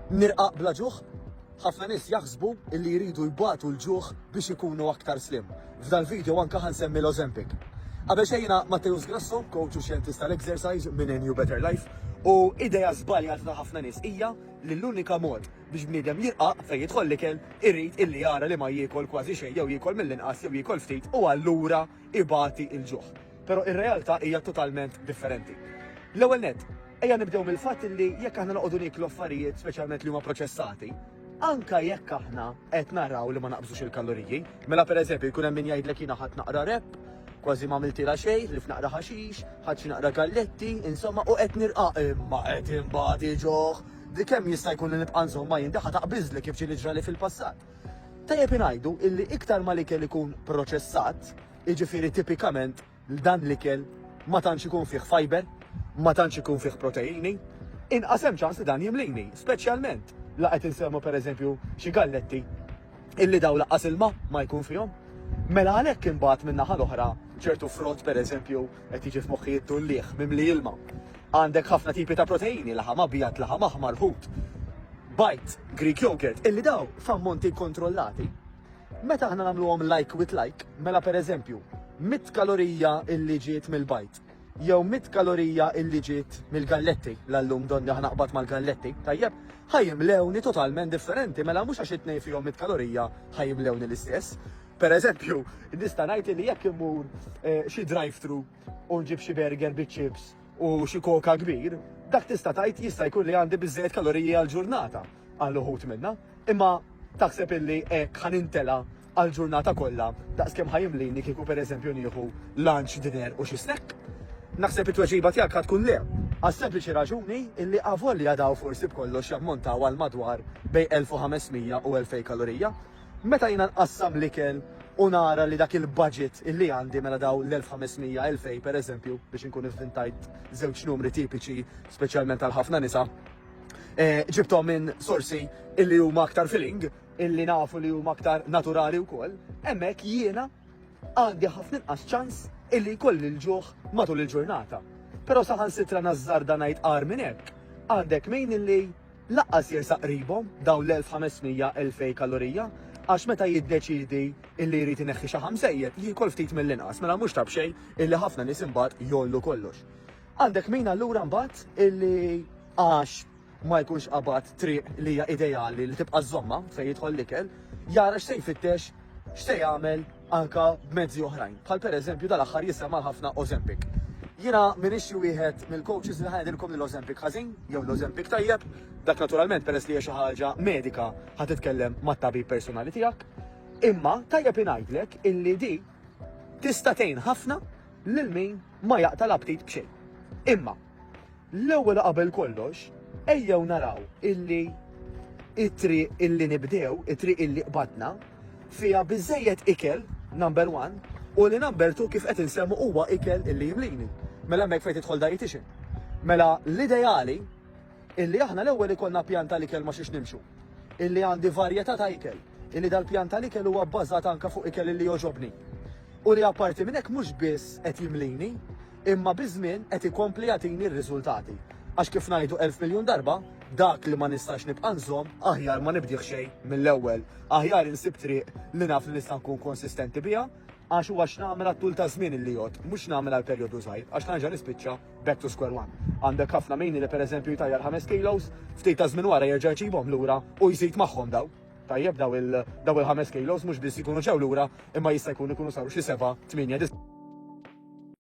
Nirqaq bla ġuħ? Ħafna nies jaħsbu illi jridu jbatu l-ġuħ biex ikunu aktar slim. F'dal-video anke ħa nsemmi l-Ozempic. Qabel xejn jiena Matteus Grasso, coach u xjentist tal-exercise minn New Better Life, u idea żbaljata ta' ħafna nies hija li l-unika mod biex bniedem jirqaq fejn jidħol l-ikel irid illi jara li ma jiekol kważi xejn jew jiekol mill-inqas jew jiekol ftit u allura ibati l-ġuħ. Però ir-realtà hija totalment differenti. L-ewwel nett, ejja nibdew mill-fatt li jekk aħna noqogħdu nieklu affarijiet speċjalment li huma proċessati, anke jekk aħna qed naraw li ma naqbżux il-kaloriji, mela pereżempju jkun hemm min jgħidlek jiena ħadd naqra rep, kważi ma għamiltilha xejn, li f'naqra ħaxix, ħadd xi naqra galletti, insomma u qed nirqa' imma qed imbagħad iġoħ li kemm jista' jkun li nibqa' nżommha jien daħħa taqbiżli kif ġieli ġrali fil-passat. Tajjeb ingħidu illi iktar ma l-ikel ikun proċessat, Jiġifieri tipikament dan l-ikel ma tantx ikun fih fiber, ma tantx ikun fih proteini, inqas hemm ċans li dan jimlini, speċjalment la qed insemmu pereżempju xi galletti illi dawn lanqas ilma ma jkun fihom. Mela għalhekk imbagħad min-naħa l-oħra ċertu frott pereżempju qed jiġi f'moħħi t-tullieħ mimli ilma. Għandek ħafna tipi ta' proteini, laħam abjad, laħam aħmar, ħut, bajd, Greek yogurt, illi dawn f'ammonti kkontrollati Meta aħna nagħmluhom like with like, mela pereżempju, mitt kalorija illi ġiet mill-bajd, jew mitt kalorija illi ġiet mill-galletti, l-allum donni aħna qbad mal-galletti, tajjeb, ħajimlewni totalment differenti, mela mhux għax it-tnejn fihom mitt kalorija ħajimlewni l-istess. Pereżempju, nista' ngħid li jekk immur eh, xi drive-thru u nġib xi burger biċ-chips u xi koka kbir, dak tista' tgħid jista' jkun li għandi biżejjed kaloriji għall-ġurnata għal uħud minna. Imma taħseb illi hekk ħa nintela' għall-ġurnata kollha daqs kemm ħa jimlini kieku pereżempju nieħu lunch, dinner u xi snack? Naħseb it-tweġiba tiegħek ħa tkun le, għas-sempliċi raġuni illi avolja dawn forsi b'kollox jammontaw għal madwar bejn 1,500 u 2,000 kalorija, meta jiena nqassam l-ikel u nara li dak il-budget illi għandi mela dawn l-1,500, 2,000 pereżempju, biex inkun ivvintajt żewġ numri tipiċi speċjalment għal ħafna nisa, eh, ġibtom minn sorsi illi huma aktar feeling, illi nafu li huma aktar naturali wkoll, hemmhekk jiena għandi ħafna inqas ċans illi jkolli l-ġuħ matul il-ġurnata. Però saħan sitra nazzarda ngħid qar minn hekk, għandek mejn illi laqqas jersa qribhom dawn l-1500-2000 kalorija għax meta jiddeċidi illi jrid ineħħi xi ħamsejjed jiekol ftit mill-inqas mela mhux tabxej illi ħafna nies imbagħad jollu kollox. Għandek min allura mbagħad illi għax ma jkunx qabad triq li hija ideali li tibqa' żomma fejn jidħol l-ikel, jara x'se jfittex, x'se jagħmel anka b'mezzi oħrajn. Bħal pereżempju dal-aħħar jisema' ħafna Ozempic. Jiena minix xi wieħed mill-coaches li ħajdilkom li l-Ozempic ħażin jew l-Ozempic tajjeb, dak naturalment peress li hija xi ħaġa medika ħa titkellem mat-tabib personali tiegħek. Imma tajjeb ingħidlek illi di tista' tgħin ħafna lil min ma jaqta' l-aptit b'xejn. Imma, l-ewwel u qabel kollox, ejjew naraw illi it-triq illi nibdew, it-triq illi qbadna, fiha biżejjed ikel, number one, u li number two kif qed insemmu huwa ikel illi jimlini. Mela hemmhekk fejn tidħol dietitian. Mela l-ideali Illi aħna l-ewwel ikollna pjan tal-ikel ma' xiex nimxu. Illi għandi varjetà ta' ikel. Illi dal-pjan tal-ikel huwa bbażat anke fuq ikel illi jogħġobni. U li apparti minn hekk mhux biss qed jimlini, imma biż-żmien qed ikompli jagħtini r-riżultati. Għax kif ngħidu elf miljun darba, dak li ma nistax nibqa' nżomm, aħjar ma nibdih xejn mill-ewwel. Aħjar insib triq li naf li nista' nkun konsistenti biha, għax huwa x'nagħmel għat-tul taż-żmien illi jgħodd, mhux x'nagħmel għal perjodu żgħir, għax nerġa' nispiċċa. Back to square one. Għandek ħafna mini li pereżempju jtajjar ħames kilos, ftit ta' żmien wara jerġa' jġibhom lura u jżid magħhom dawn. Tajjeb daw il daw il-ħames kilos mhux biss jkunu ġew lura imma jista' jkun ikunu saru xi seba', tmienja, disa'.